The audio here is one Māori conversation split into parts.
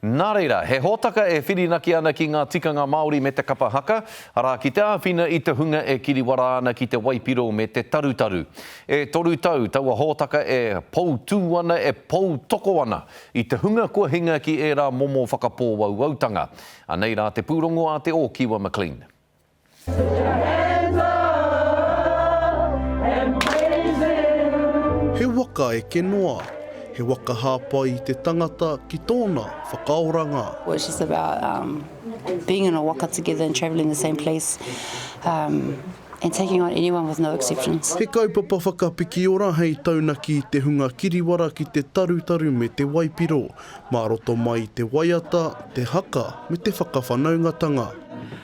Nā reira, he hōtaka e whirinaki ana ki ngā tikanga Māori me te kapa haka, arā, ki te āwhina i te hunga e kiriwara ana ki te waipiro me te tarutaru. E toru tau taua hōtaka e poutū ana, e poutoko ana i te hunga kua hinga ki ērā momo whakapōwauwautanga. Anei rā te pūrongo a Te Ōkiwa McLean. He waka eke noa, he waka hāpai i te tangata ki tōna whakaoranga. Which is about um, being in a waka together and travelling the same place um, and taking on anyone with no exceptions. He kaupapa whakapikiora hei taunaki i te hunga kiriwara ki te tarutaru me te waipiro. Mā roto mai i te waiata, te haka, me te whakawhanaungatanga.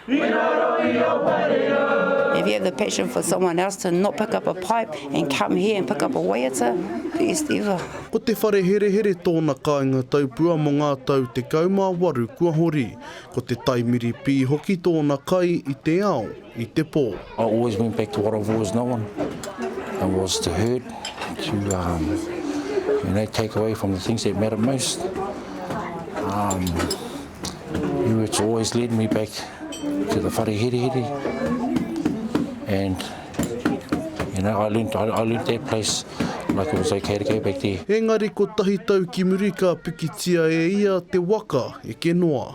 I raro i ō whareau. If you have the passion for someone else to not pick up a pipe and come here and pick up a waiata, best ever. Ko Te Whareherehere tōna kāinga taupua mō ngā tau 18 kua hori. Ko Te Taimiri Pī hoki tōna kai i te ao. i te pō. I always went back to what I've always known and was to hurt to um, you know, take away from the things that matter most um, you it's always led me back to the whare here here and you know I learned, I, I learned that place like it was okay to go back there Engari ko tahi tau ki muri ka pikitia e ia te waka e ke noa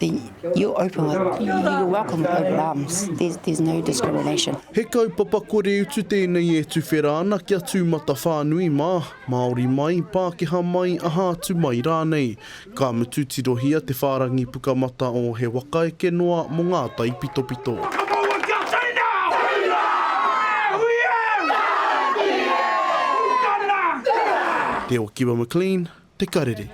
He kaupapa kore utu tēnei e tuwhera ana kia tūmatawhānui mā, Māori mai, Pākehā mai, aha atu mai rānei. Ka mutu tirohia te whārangi pukamata o He Waka Eke Noa mō ngā taipitopito. Te Okiwa McLean, Te Karere.